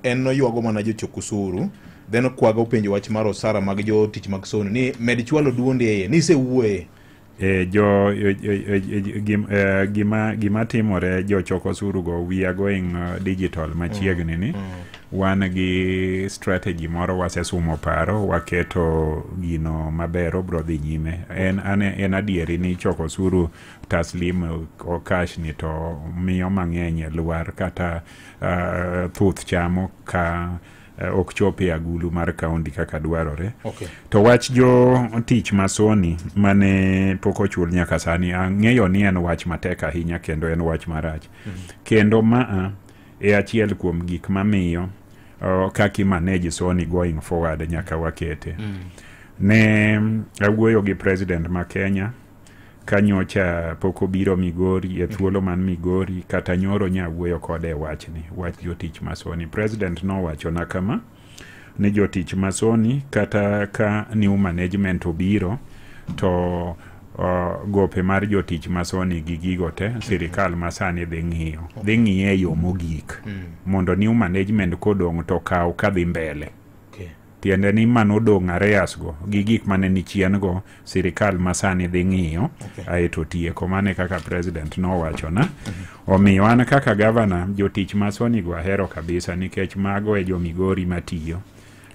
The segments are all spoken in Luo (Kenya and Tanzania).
en noywago mana jochok usuru then okwaga openjo wach mar osara mag jo tich mag sono ni med chwalo duondi eye ni isewuoye e jo e, e, e, gim, e, gima gima timore jochoko osuru go we are going uh, digital machiegni ni wan gi strategy moro wasesumo paro waketo gino maber obro dhi nyime en, an, en adieri ni choko osuru taslim o- o cash ni to miyo mang'eny lwar kata uh, thuth chamo ka uh, ok chop e agulu mar kaunti kaka dwarore okay. to wach jo tich masoni mane pok ochul nyaka sani ang'eyo ni en wach matek ahinya kendo en wach marach mm -hmm. kendo maa e achiel kuom gik mamiyo uh, kaka imanage soni going forward nyaka wakete mm. ne awuoyo gi president ma kenya ka nyocha pok obiro Migori e thuolo man Migori kata nyoro nya wuoyo kode e wachni wach jotich masoni president nowachona kama ni jotich masoni kata ka new management obiro to uh, gope mar jotich masoni gi gigo te sirikal masani dhi ng'iyo dhi ng'iye e yo mogik mondo new management kodong' to kaw kadhi mbele tiende ni ma nodong' areyasgo gi gik mane ni chiengo sirikal ma sani dhi ng'iyo okay. aeto tieko mane kaka president nowachona mm -hmm. omiyo an kaka gavana jotich ma sonigo ahero kabisa nikech mago e jomigori matiyo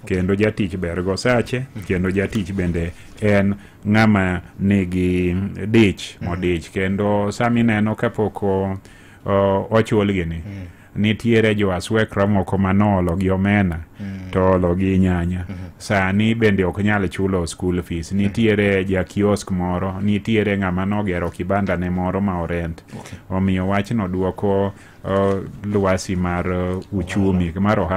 kendo jatich bergo sache mhm. kendo jatich bende en ng'ama nigi dich mhm. modich kendo sami neno kapok ochulgi ni mm. nitiere jo aswekra moko ma noolo gi omena mm. to olo gi nyanya mm -hmm. sani bende ok nyal chulo school fees mm. nitiere ja kiosk moro nitiere ng'ama nogero kibanda ne moro ma orent okay. omiyo wachno duoko uh, lwasi mar uh, uchumi mar ohala